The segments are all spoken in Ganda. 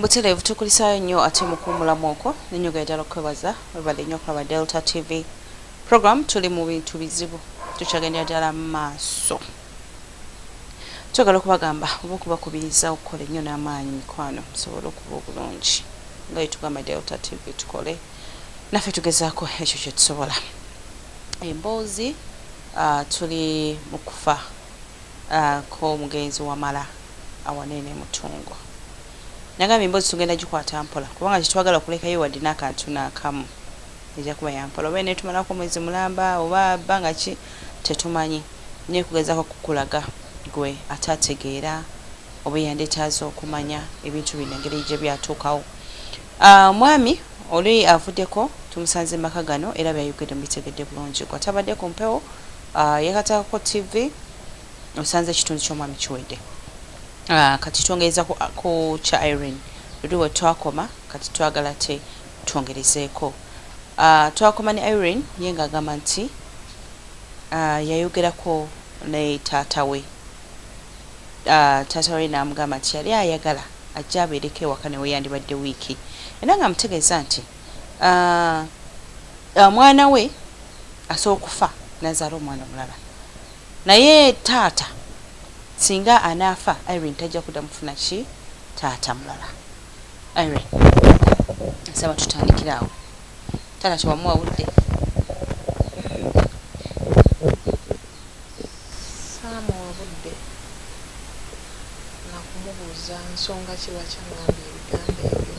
Butereevu tukulisaayo nnyo ate mu kuwumulamu okwo ne njogera ddala okukwebaza webale nnyo okulaba Delta TV program tuli mu bintu bizibu tukyagendera ddala mu maaso twagala okubagamba oba okubakubiriza okukola ennyo n'amaanyi mikwano musobole okuba obulungi nga yetugamba Delta TV tukole naffe tugezaako ekyo kye tusobola emboozi uh, tuli mu kufa ko omugenzi Wamala awanene ne Mutungo. Nagambye emboozi tugenda gikwata mpola kubanga tetwagala kulekayo wadde n'akantu naakamu. Ejja kuba ya mpola. Oba eneetumalako omwezi mulamba oba bbanga ki tetumanyi naye kugezaako kukulaga ggwe ate ategeera oba eyandyetaaze okumanya ebintu bino engeri gye byatuukawo. Omwami oli avuddeko tumusanze mu maka gano era by'ayogedde mubitegedde bulungi. Ggwe atabadde ku mpewo. Ah, yekatakako TV osanze ekitundu ky'omwami kiwedde. Ah, kati twongereza ku, ku kya Irene luli we twakoma kati twagala te twongerezeeko. Ah, twakoma ne Irene ye ng'agamba nti ah, yayogerako ne taata we ah, taata we n'amugamba nti yali ayagala ajja abeereko ewaka ne weyandibadde wiiki era ng'amutegeeza nti Ah, ah, mwana we asobola okufa nazaala omwana omulala naye taata singa anaafa irene tajja kudda mufuna ki taata mulala irene nsaba tutandikira awo taata tewamuwa budde saamuwa budde nakumubuuza nsonga kiba kyangambye ebigambo ebyo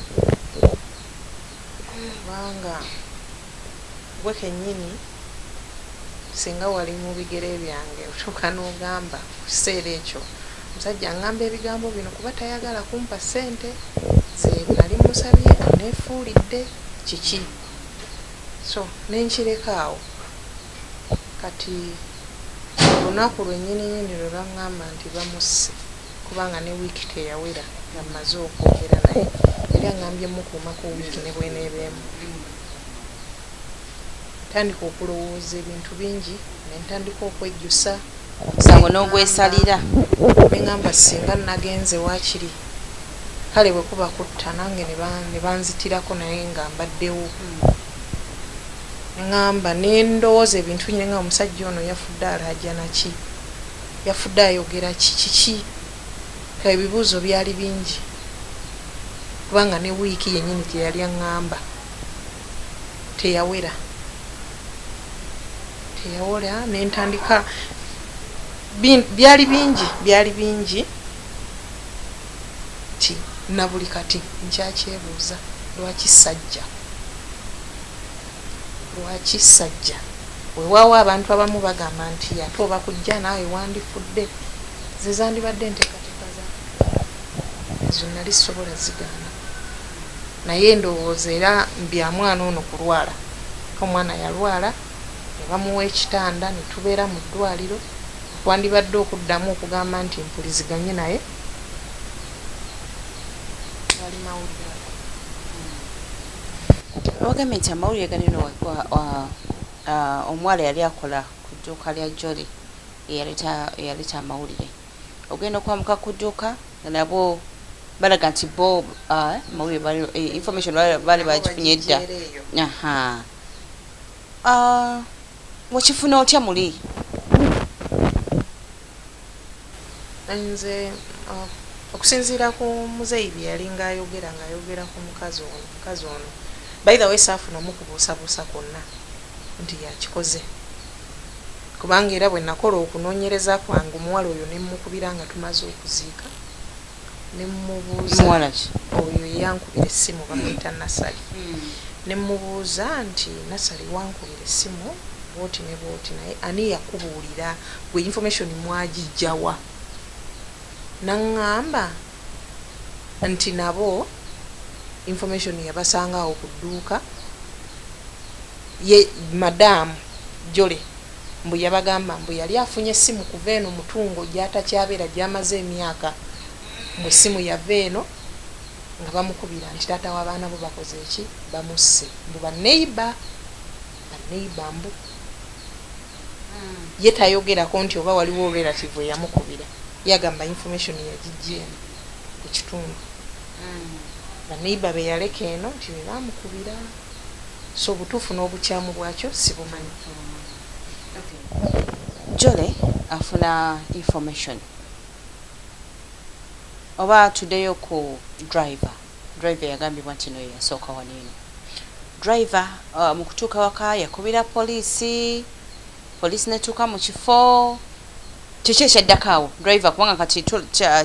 Kubanga ggwe kennyini singa wali mu bigere byange otuuka n'ogamba mu kiseera ekyo omusajja aŋŋamba ebigambo bino kuba tayagala kumpa ssente ze nnali mmusabye anneefuulidde kiki so ne nkireka awo. Kati olunaku lwenyininyini lwe bangamba nti bamusse kubanga ne wiiki teyawera nga mmaze okwogera naye yali angambye mmukuumako wiiki ne bw'eneeba emu. Ntandika okulowooza ebintu bingi ne ntandika okwejjusa omusango n'ogwesalira. Ne ngamba ssinga nnagenze waakiri kale bwe kuba kutta nange ne banzitirako naye nga mbaddewo. Ngamba nendowoza ebintu binyinji nga omusajja ono yafudde alaajana ki? Yafudde ayogera ki? Kiki? Kale ebibuuzo byali bingi kubanga ne wiiki yenyini gyeyali angamba teyawera teyawera nentandika byali bingi byali bingi. Kati na buli kati nkyakyebuuza lwaki Sajja? Lwaki Sajja? Wewaawo abantu abamu bagamba nti ate oba kujja naawe wandifudde. Ze zandibadde enteekateeka za Katonda. Ezo nnali sisobola zigaana. Naye ndowooza era bya mwana ono kulwala. Omwana yalwala ne bamuwa ekitanda ne tubeera mu ddwaliro. Okwandibadde okuddamu okugamba nti mpuliziganye naye. tewali mawulire ago hmm. ogambye nti amawulire ganeno omuwala yali akola ku dduuka lya joli eyaleeta amawulire ogenda okwamuka ku dduuka nabo balaga nti bo amawulire eh, information baali bagifunye edda wakifuna otya muli Nze okusinziira ku muzeeyi bye yalinga ayogera ng'ayogera ku mukazi ono mukazi ono by the way saafuna omukubuusabuusa kwonna nti yakikoze kubanga era bwe nakola okunoonyereza kwange omuwala oyo ne mmukubira nga tumaze okuziika nemubuuza oyo eyankubira essimu bamuyita nasali hmm. nemubuuza nti nasali wankubira essimu bwoti ne bwoti naye ani yakubuulira gwe information mwagijjawa naŋŋamba nti nabo information yabasanga awo ku dduuka ye madaamu jole Mbu yabagamba mbu yali afunye essimu kuva eno Mutungo gy'atakyabeera gy'amaze emyaka, mbu essimu yava eno nga bamukubira nti taata w'abaana bo bakoze ki? Bamusse. Mbu ba neighbor, ba neighbor mbu ye tayogerako nti oba waliwo relative eyamukubira. Ye agamba information yagijja eno ku kitundu, ba neighbor be yaleka eno nti be baamukubira. so obutuufu n'obukyamu bwakyo sibumanyi. Jolly afuna information oba tudeyo ku driver driver yagambibwa nti noyo yasooka wano eno driver uh, mukutuuka waka yakubira poliisi poliisi netuuka mu kifo kiki ekyaddako awo driver kubanga kati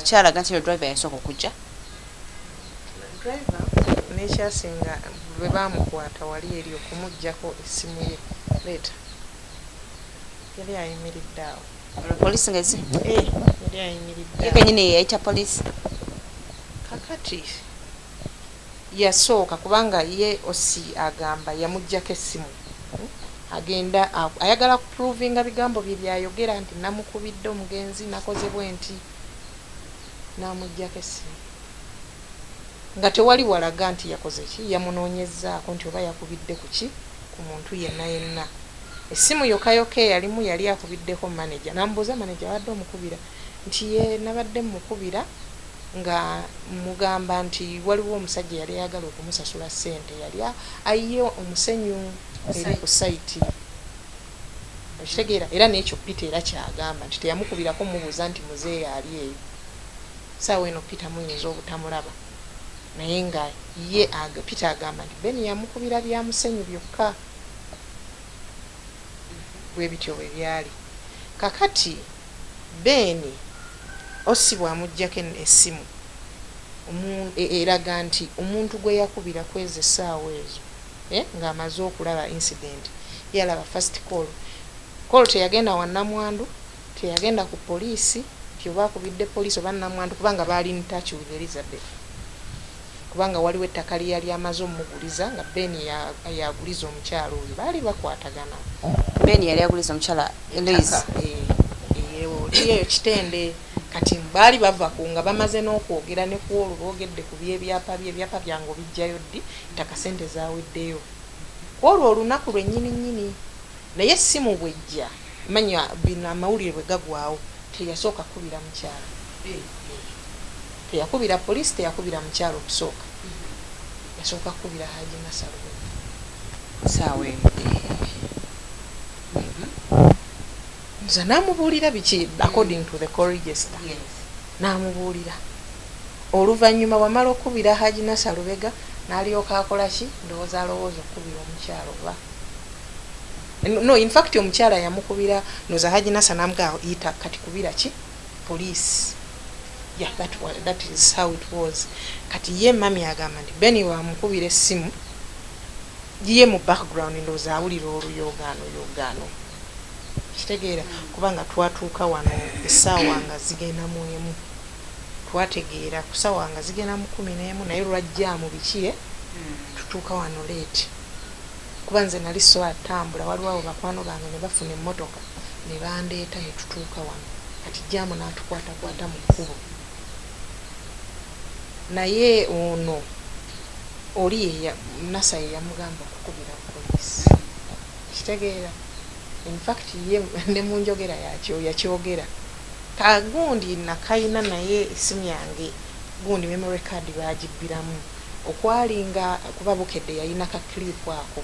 kyalaga nti no driver yasooka okujja Driver nekyasinga bwebamukwata wali eri okumujjako essimu ye leeta yali ayimiridde awo. Olwo police nga ezze? Eeh yali ayimiridde awo. Ye kenyini yeyayita police? Kakati yasooka kubanga ye OC agamba yamujjako essimu agenda ayagala ku provinga bigambo bye byayogera nti namukubidde omugenzi nakoze bwenti. n'amuggyako essimu nga tewali walaga nti yakoze ki, yamunoonyezzaako nti oba yakubidde ku ki, ku muntu yenna yenna. Essimu yokka yokka eyalimu yali akubiddeko maneja n'amubuuza maneja abadde omukubira nti yee nabadde mmukubira nga mmugamba nti waliwo omusajja eyali ayagala okumusasula ssente yali ayiye omusenyu eri ku sayiti. okitegeera era n'ekyo peter era kyagamba nti teyamukubirako mubuuza nti muzeeyi ali eyo saawa eno peter muyinza obutamulaba naye nga ye peter agamba nti ben yamukubira byamusenyu byokka bwebityo bwe byali kakati ben osi bwamujjako essimu eraga nti omuntu gwe yakubira kwezi essaawa ezo eh nga amaze okulaba incident yalaba first call call teyagenda wa namwandu teyagenda ku police nti oba akubidde police oba namwandu kubanga baali in touch with Elizabeth kubanga waliwo ettaka lye yali amaze omuguliza nga Ben yaguliza omukyalo oyo baali bakwatagana Ben yali aguliza omukyala Elise eyeyo kitende kati baali bava ku nga bamaze n'okwogera ne ku olwo boogedde ku byebyapa bye ebyapa byange obijjayo ddi ttaka sente zaweddeyo kwolwo olunaku lwenyini nyini naye essimu bwejja manya bino amawulire bwegagwawo teyasooka kukubira mukyala teyakubira police teyakubira mukyala okusooka yasooka kukubira haji nasalwe saawa eno nze namubuulira biki according to the call register namubuulira Oluvannyuma wamala okukubira Hajj Nasser Lubega nalyoka akola ki? Ndowooza alowooza okukubira omukyala oba? No in fact omukyala yamukubira ndowooza Hajj Nasser namugamba yita kati kubira ki? Police. Yeah that, that is how it was. Kati ye mami agamba nti Beni wamukubira essimu ye mu background ndowooza awulira oluyogaano yogaano kitegeera kubanga twatuuka wano essaawa nga zigenda mu emu. twategeera kusawa nga zigenda mukumi nemu naye lwajjaamu biki e tutuuka wano late kuba nze nali sobola tambula waliwo awo bakwano bange nebafuna emmotoka nebandeeta netutuuka wano kati jjaamu natukwatakwata mu kkubo naye ono oli nasa yeyamugamba okukubira poliisi kitegeera infact ye nemunjogera yakyogera Ka gundi nakayina naye esimu yange gundi memory card bagibbiramu okwali nga kuba Bukedde yalina ka clip ako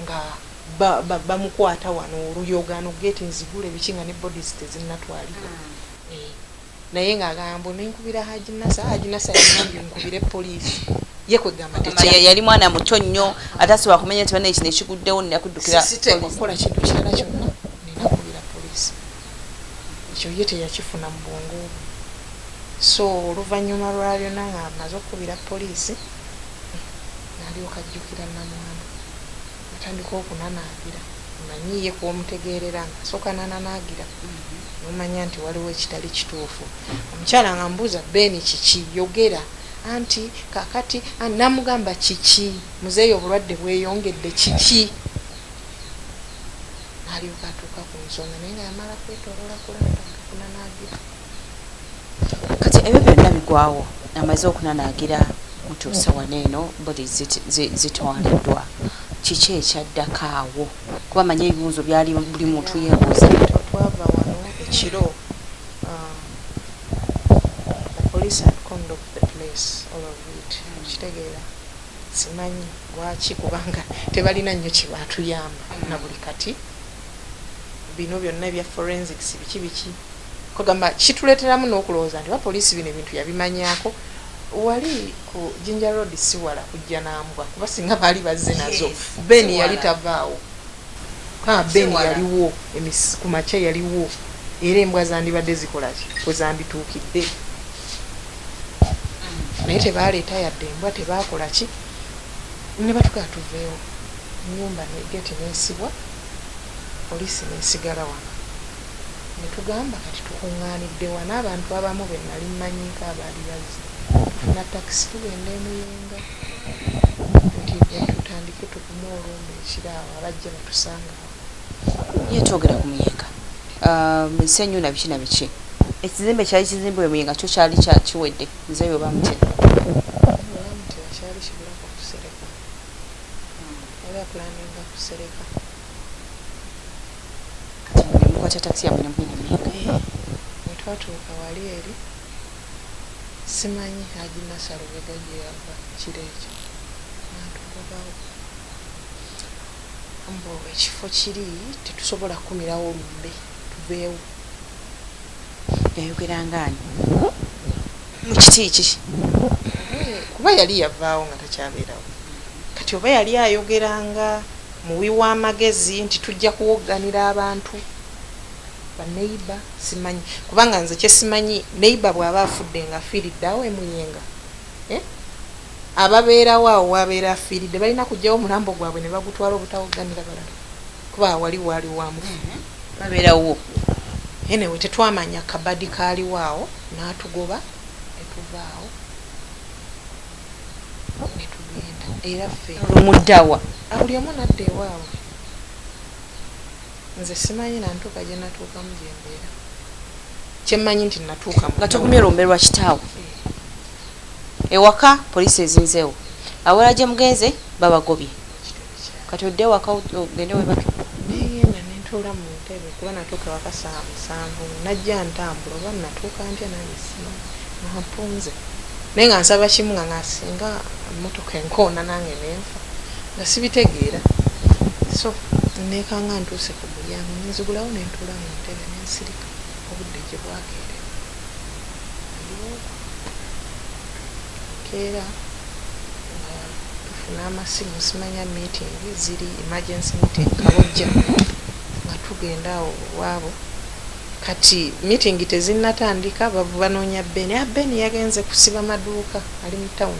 nga bamukwata wano oluyogaano gate nzigule biki nga ne bodies tezinnatwalibwa eh, naye ng'agamba mbu nenkubira Haji Nasa Haji Nasa yagambye nkubire poliisi ye kwegamba yali mwana muto nnyo ate asobola kumanya nti bana ekino ekiguddewo nina kuddukira siteeka okukola kintu kirala kyonna nina kubira poliisi ekyo ye teyakifuna mu bwongo bwe so oluvannyuma lwa byona nga maze okukubira poliisi nalyoka ajjukira namwana atandika okunanagira manyi ye kwomutegeerera nga asooka nananagira nomanya nti waliwo ekitali kituufu omukyala nga mbuuza beeni kiki yogera anti kakati namugamba kiki muzeeyo obulwadde bweyongedde kiki n'alyoka atuuka ku nsonga naye nga yamala kwetoloola kulanda nga kunanaagira kati ebyo byonna bigwawo amaze okunanaagira mutuuse wano eno bodi zitwaliddwa kiki ekyaddako awo kuba manye ebibuuzo byali buli muntu yebuuza twava wano ekiro um, police had conduct the place all of it okitegeera mm. Simanyi lwaki kubanga tebalina nnyo kyebatuyamba nabuli kati bino byonna ebya forensics biki biki kwegamba kituleteramu nokulowooza nti oba police bino ebintu yabimanyako wali ku Jinja road siwala kujja nambwa kuba singa baali bazze nazo Ben yali tavaawo. Ha, Ben Sewala. yaliwo emis- ku makya yaliwo, era embwa zandibadde zikola ki? Kwe zambituukidde. Naye tebaaleeta yadde embwa, tebaakola ki? Ne batugamba tuveewo. Ennyumba ne geeti n'esibwa, poliisi n'esigala wano. Ne tugamba kati tukuŋŋaanidde wa? N'abantu abamu be nnali mmanyiiko abaali bazze. Tufuna takisi tugenda e Muyenga. Nti, eh, tutandike tu- Ye twogera ku Muyenga. Um, ensi enyu na biki na biki. Ekizimbe kyali kizimbe we Muyenga kyo kyali kya kiwedde. Nze yo bamutya. Mukwata taxi ya mwenye mwenye Muyenga. Eh, Wetwatuuka wali eri. Simanyi haji nasalo bega gye yava kiro ekyo. Nantu mbu ekifo kiri tetusobola kukumirawo lumbe tuveewo yayogera ngaani mu kiti ki kuba yali yavaawo nga takyabeerawo kati oba yali ayogera nga muwi w'amagezi nti tujja kuwogganira abantu baneiba simanyi kubanga nze kyesimanyi neiba bw'aba afudde nga afiiridde awo emuyenga eh? ababeerawo awo w'abeera afiiridde balina kuggyawo omulambo gwabwe ne bagutwala obutawogganira balala kuba wali waali wa mufu babeera wuwo enewe tetwamanya kabadi kaaliwo awo n'atugoba ne tuvaawo ne tugenda era ffe omuddawa buli omu nadda ewaabwe nze simanyi nantuuka gye natuukamu gye mbeera kyemmanyi nti natuuka nga tugumye olumbe lwa kitaawo Ewaka police ezinzewo awalala jemugenze babagobye kati odde ewaka ogende webake. Nengenda nentuula mu ntebe kuba natuuka ewaka saawa musanvu nga najja ntambula oba natuuka ntya nange simanyi nga mpunze naye nga nsaba kimu nga nga singa emotoka enkoona nange nenfa nga sibitegeera so nekanga ntuuse ku mulyango nenzigulawo nentuula mu ntebe nensirika obudde gyebwakeerera. waliwo keera nga tufuna amasimu simanya meeting ziri emergency meeting kabojja nga tugenda awo waabo kati meeting tezinnatandika banoonya beni a ah, beni yagenze kusiba maduuka ali mu town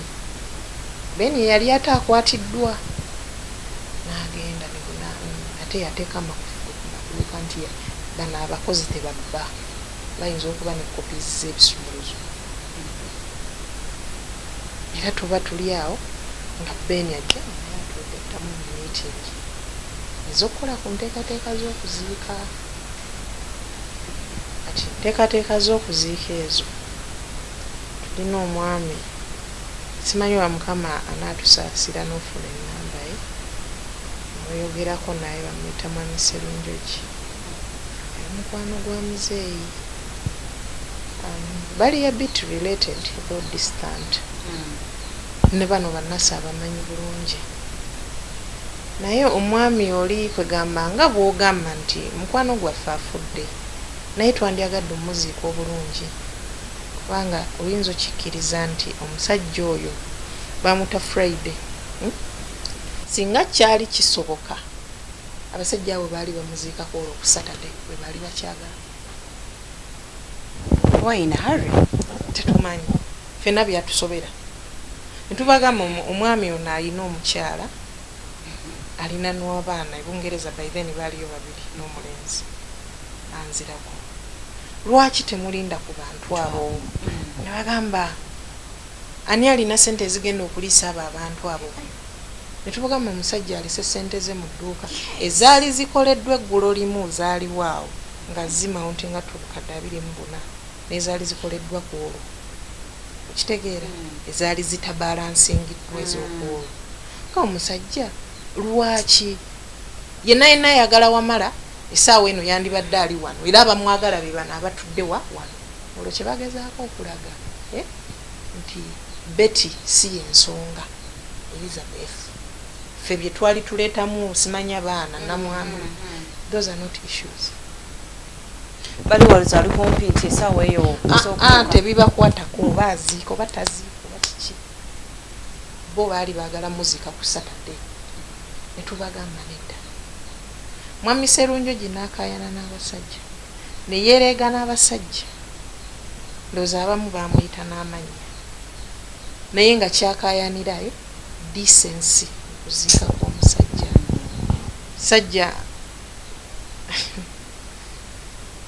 beni yali ate akwatiddwa n'agenda ate yateeka amakufu ku maduuka nti bano abakozi tebabba bayinza okuba ne copies z'ebisumuluzo era tuba tuli awo nga Ben ajja naye atwegattamu mu meeting ez'okukola ku nteekateeka z'okuziika kati enteekateeka z'okuziika ezo tulina omwami simanyi wa mukama anaatusaasira n'ofuna ennamba ye mweyogerako naye bamuyita mwami serunjogi Mukwano gwa muzeeyi um, bali a bit related though distant hmm. ne bano bannasi abamanyi bulungi naye omwami oli kwegamba nga bwogamba nti mukwano gwaffe afudde naye twandyagadde omuziika obulungi kubanga oyinza okikkiriza nti omusajja oyo bamuta friday hmm? singa kyali kisoboka Abasajja abo baali bamuziika kwolwo ku Saturday bwebaali bakyagala oba in a hurry tetumanyi fena byatusobera netubagamba omwami ono alina omukyala alina nwabaana ebungereza by then baaliyo babiri nomulenzi anzirako lwaki temulinda ku bantu abo nebagamba ani alina sente ezigenda okuliisa abo abantu abo ne tumugamba omusajja alese ssente ze mu dduuka ezaali zikoleddwa eggulo limu zaaliwo awo nga zimauntinga to obukadde abiri mu buna n'ezaali zikoleddwa ku olwo okitegeera ezaali zitabalansingiddwa ez'okuolwo nga omusajja lwaki yenna yenna ayagala wamala esaawa eno yandibadde ali wano era abamwagala be bano abatudde wa wano olwo kye bagezaako okulaga eh, nti beti si yensonga Elizabeth ffe byetwali tuletamu simanya baana namwana those are not issues bali waliza ali kumpi nti esawa eyo ah, ah, tebibakwatako oba aziika oba taziika oba kiki bo baali bagala muzika ku saturday netubagamba nedda mwami serunjogi nakayana n'abasajja neyereega n'abasajja ndoozi abamu bamuyita n'amannya naye nga kyakayanira yo decency okuziika kwomusajja sajja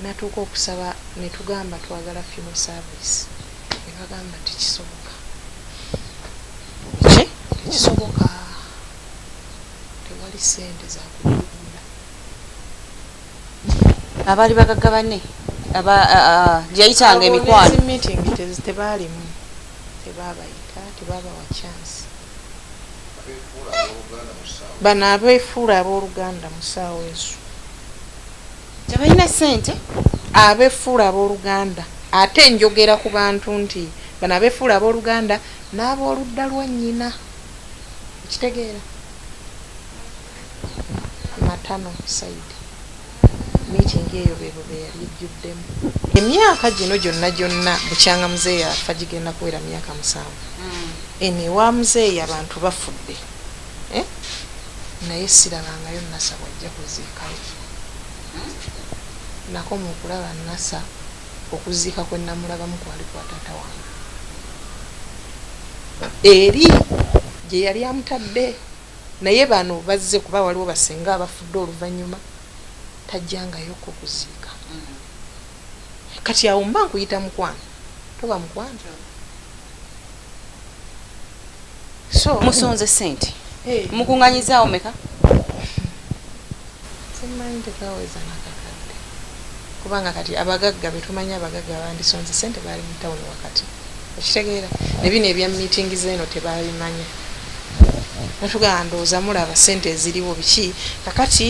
natuuka okusaba netugamba twagala funo service nebagamba tekisoboka ki tekisoboka tewali sente zakugula abaali bagagga banne gye yayitanga emikwano tebaalimu tebaabayita tebaabawa chansi bano abeefuula abooluganda mu ssaawa ezo tebalina sente abeefuula abooluganda ate njogera ku bantu nti bano abeefuula abooluganda n'abooludda lwa nnyina okitegeera maternal side meeting eyo bebo beyali ejjuddemu. Emyaka gino gyonna gyonna bukyanga muzeeyi afa gigenda kuwera myaka musanvu hmm. eno ewa muzeeyi abantu bafudde eh? naye sirabangayo nasa bwajja kuziikayo hmm? nako mukulaba nasa okuziika kwenamulabamu kwali kwa taata wange eri gye yali amutadde Naye bano bazze kuba waliwo basenga abafudde oluvanyuma tajjangayo ko kuziika kati awo mba nkuyita mukwano toba mukwano so musonze sente eh. mukunganyizaawo meka Simanyi tekaweza nakakadde kubanga kati abagagga betumanyi abagagga bandisonze sente baali mu town wakati okitegeera nebino ebya meeting zeno tebabimanya natugamba ndowooza mulaba sente eziriwo biki kakati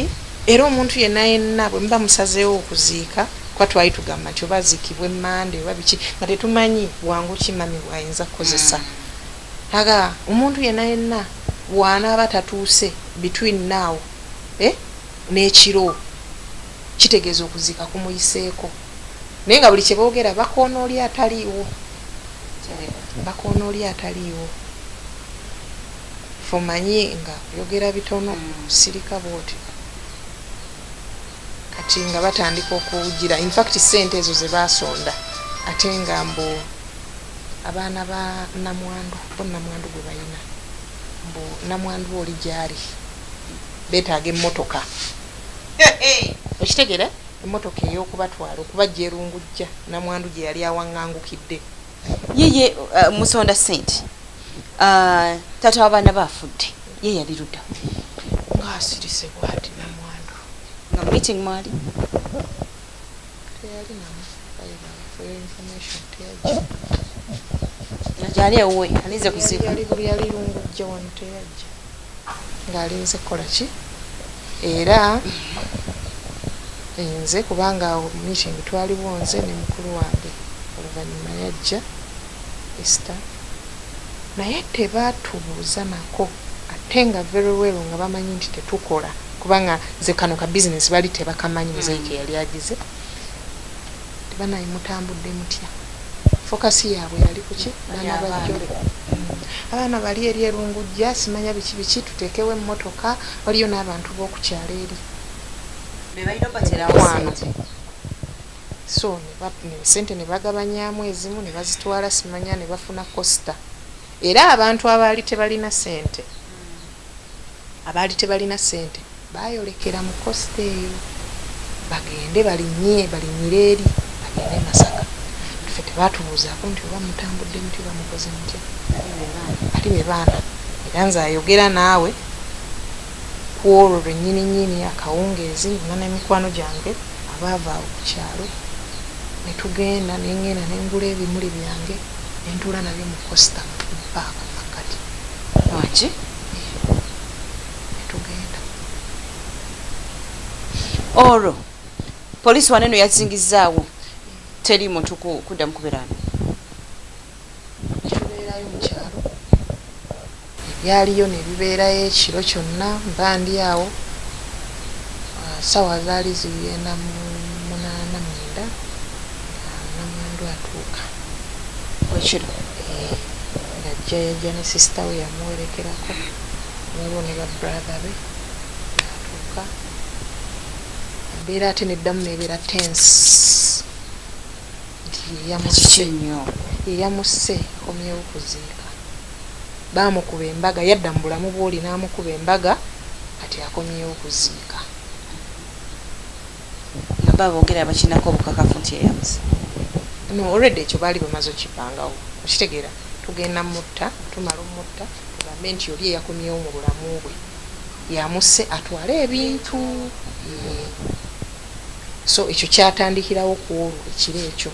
era omuntu yenna yenna bwe muba musazeewo okuziika kuba twali tugamba nti oba aziikibwe mande oba biki nga tetumanyi bwangu ki mami bwayinza kukozesa aga omuntu yenna yenna wanaaba tatuuse between now eh, n'ekiro kitegeeza okuziika kumuyiseeko naye nga buli kye boogera bakoona oli ataliiwo bakoona oli ataliiwo fumanyi nga yogera bitono sirika bwoti kati nga batandika okuwujira infact sente ezo ze basonda ate nga mbu abaana ba namwandu bo namwandu gwe balina mbu namwandu oli gyali betaaga emmotoka okitegera emmotoka ey'okubatwala okubajja erungujja namwandu gye yali awangangukidde yeye uh, musonda sente uh, tata w'abaana baafudde ye yali ludda ng'asirise bwati namwandu nga meeting mwali gyali ewuwe alinze kuziika yali lungujja wano teyajja ng'alinze kukola ki era nze kubanga awo meeting twaliwo nze ne mukulu wange oluvannyuma yajja esta naye tebatubuuza nako atte nga very well nga bamanyi nti tetukola kubanga nze kano ka business bali tebakamanyi muzeyi keyali agize banaye mutambudde mutya focus yaabwe yali kuki baana bajole abaana bali eri erungujja simanya biki biki tuteekewo emmotoka waliyo n'abantu b'okukyalo eri bebalina obaterawo sente so sente nebagabanyamu ezimu nebazitwala simanya nebafuna costa era abantu abaali tebalina sente abaali tebalina sente bayolekera mu costa eyo bagende balinye balinyire eri bagende e masaka fe tebatubuuzako nti oba mutambudde muti oba mukoze mutya ali bebaana era nze ayogera naawe Ku olwo lwe nnyininyini akawungeezi nze ne mikwano gyange abaava awo ku kyalo ne tugenda ne ng'enda ne ngula ebimuli byange ne ntuula nabyo mu kosita mu food park mu makkati. Wangi. Eeh ne tugenda. Olwo poliisi wano eno yazingizzaawo teri muntu kuddamu kubeera wano? Tubeerayo mu kyalo, ebyaliyo ne bibeerayo ekiro kyonna mba ndi awo. Ssaawa zaali zigenda mu munaana mwenda nga nnamwandu atuuka. Wekiri. Eeh, ng'ajja yajja ne sisita we yamuwerekerako, waliwo ne ba brother be ng'atuuka. Embeera ate n'eddamu n'ebeera tense. nti yeyamusse nnyo yeyamusse komyewo kuziika baamukuba embaga yadda mu bulamu bwoli n'amukuba embaga kati akomyewo kuziika naba boogera bakinako obukakafu nti yeyamusse no already ekyo baali bamaze okipangawo okitegeera tugenda mutta tumala omutta tugambe nti oli eyakomyewo mu bulamu bwe yamusse atwale ebintu so ekyo kyatandikirawo ku olwo ekiro ekyo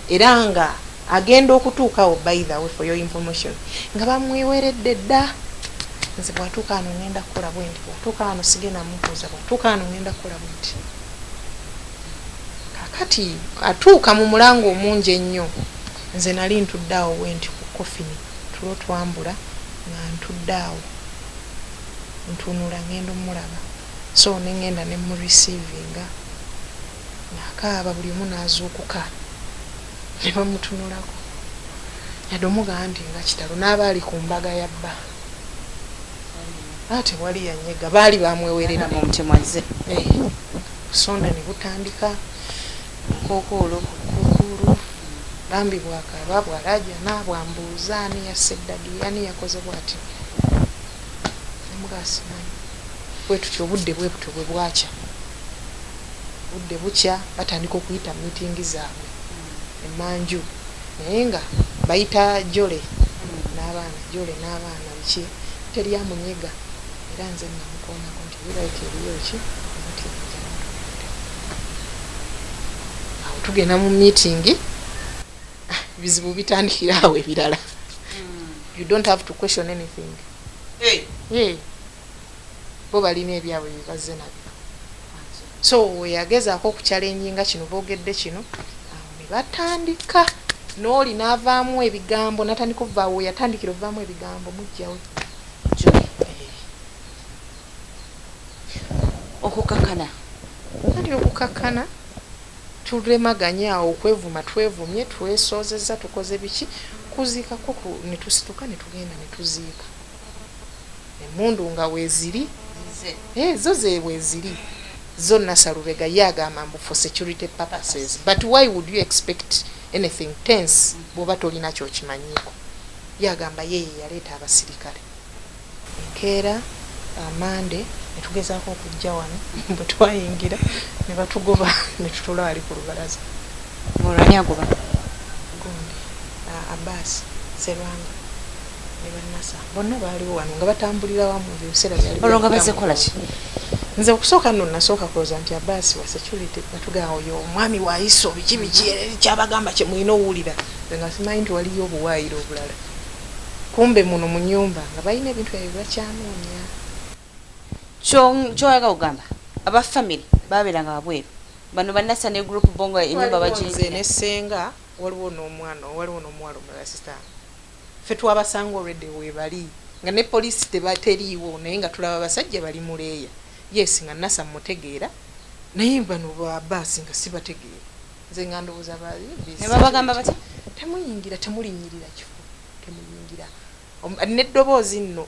era nga agenda okutuukawo by the way for your information nga bamweweredde dda nze bwatuuka ano ngenda kukola bwendi bwatuuka ano sigenda mubuuza bwatuuka ano ngenda kukola bwendi kakati atuuka mu mulanga omungi ennyo nze nali ntudde awo bwendi ku kofini tulo twambula nga ntudde awo ntunula ngenda omulaba So nengenda ne mu receivinga nakaaba buli omu nazuukuka nebamutunulako yadde omu bambi nga kitalo n'abaali ku mbaga ya bba ate wali yanyega baali bamwewerera mu mutima azze eh, sonda ne butandika nkokoolo kukuulu bambi bwakaaba bwalajana bwambuuza ani yasse ddadi ani yakoze bwati nemugasimanyi bwe tutyo obudde bwe butyo bwe bwakya budde bukya batandika okuyita mu mitingi zaabwe emanju naye nga bayita jole n'abaana jole n'abaana biki teri amunyega era nze namukoonako nti biraika eriyo ki omutingi awo tugenda mu mitingi ah, bizibu bitandikira awo ebirala hmm. you don't have to question anything hey. hey. bo balina ebyabwe byebazze nabyo so weyagezaako okukyalenjinga kino boogedde kino awo ne batandika n'oli n'avaamu ebigambo natandika ovaawo weyatandikira ovaamu ebigambo mujjawo okukakana kati okukakana Tulemaganye awo okwevuma twevumye, twesoozezza, tukoze biki, kuziika kwo ku, ne tusituka ne tugenda ne tuziika. Emmundu nga weeziri, eh, zo ze weeziri, zo Nasser Lubega ye agamba mbu for security purposes but why would you expect anything tense bw'oba tolina ky'okimanyiiko. Ye agamba ye ye yaleeta abasirikale. Enkeera, Amande, ne tugezaako okujja wano. Bwe twayingira ne batugoba ne tutuula wali ku lubalaza. Olwo ani agoba? Gundi, Abaasi, Sserwanga ne ba Nasser bonna baaliwo wano nga batambulira wamu. Ebyo ebiseera byali bya. Olwo nga bazze kukola ki? Nze okusooka nno nnasooka kulowooza nti Abaasi wa security ne batugamba oyo omwami wa ISO biki biki ky'abagamba kye mulina owulira. Nze nga simanyi nti waliyo obuwaayiro obulala. kumbe muno munyumba nga balina ebintu byabwe byebakyanonya kyoyaga kugamba aba family babelanga wabweru bano banasa ne group bongo enyumba bajinze ne senga waliwo nomwana waliwo nomuwala omulala sita fe twabasanga already webali nga ne police tebateriiwo naye nga tulaba basajja bali muleya yes nga nasa mutegeera naye bano ba basi nga sibategeera nze nga ndowooza nebabagamba batya temuyingira temulinyirira kifo temuyingira neddoboozi nno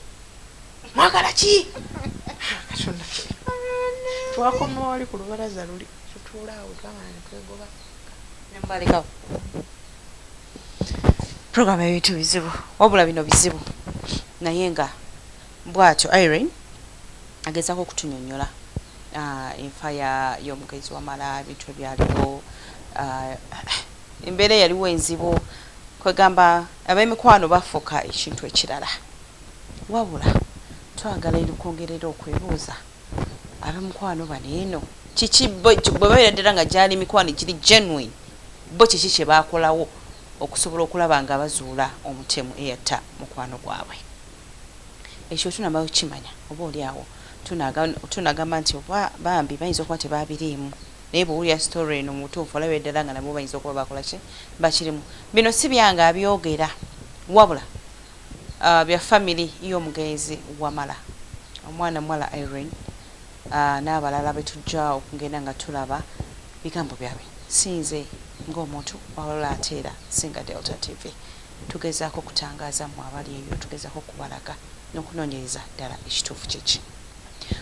mwagala ki katonda twakoma wali ku lubalaza luli tutuula awo twamala netwegoba nembalekawo program ebintu bizibu wabula bino bizibu naye nga Bwatyo Iryn agezako okutunyonyola enfa ya yomugenzi wamala ebintu ebyaliwo embeera eyaliwo enzibu kwegamba abemikwano bafuka ekintu ekirala wabula twagala erikwongerera okwebuuza abemukwano bano eno kiki bwebabeera ddala nga gyali mikwano egiri genuine bo kiki kyebakolawo okusobola okulaba nga bazuula omutemu eyatta mukwano gwabwe Ekyo tunamala okukimanya, oba oli awo tunagamba nti oba bambi bayinza okuba tebabiriimu. Naye bwowulira story eno mubutuufu olaba eddala nga nabo bayinza okuba bakola ki? Bakirimu. Bino si byange abyogera, wabula bya family yomugenzi Wamala, omwana muwala Irene nabalala betujja okugenda nga tulaba. Bigambo byabwe, si nze nga omuntu wabula ate era si nga Delta TV. Tugezaako kutangaaza mmwe abali eyo, tugezaako okubalaga n'okunoonyereza ddala ekituufu kye ki.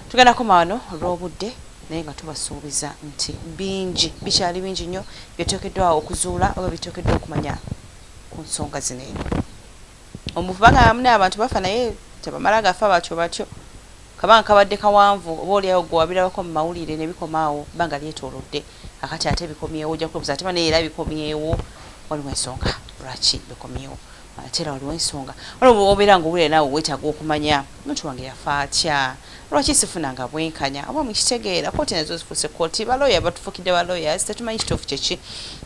Tugenda kukoma wano olw'obudde, naye nga tubasuubiza nti bingi, bikyali bingi nnyo bye tuteekeddwa okuzuula oba bye tuteekeddwa okumanya ku nsonga zino eno. Omufu bagamba mune abantu bafa naye tebamala gafa batyo batyo. Kabanga kabadde kawanvu, oba olyawo gwe wabirabako mu mawulire ne bikoma awo, bbanga lyetoolodde. akati ate bikomyewo ojja kwebuza ate banaye era bikomyewo waliwo ensonga lwaki bikomyewo ate era waliwo ensonga olwo obeera nga owulira naawe weetaaga okumanya omuntu wange yafa atya lwaki sifuna nga bwenkanya oba mukitegeera kooti nazo zifuuse kooti balooya batufukidde balooya tetumanyi kituufu kyeki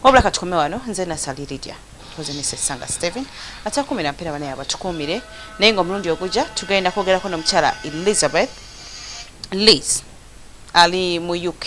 wabula katukome wano nze nasaliridya tukoze ne sesanga steven atakumira mpera banaye abatukuumire naye nga omulundi ogujja tugenda kwogerako nomukyala elizabeth liz ali mu uk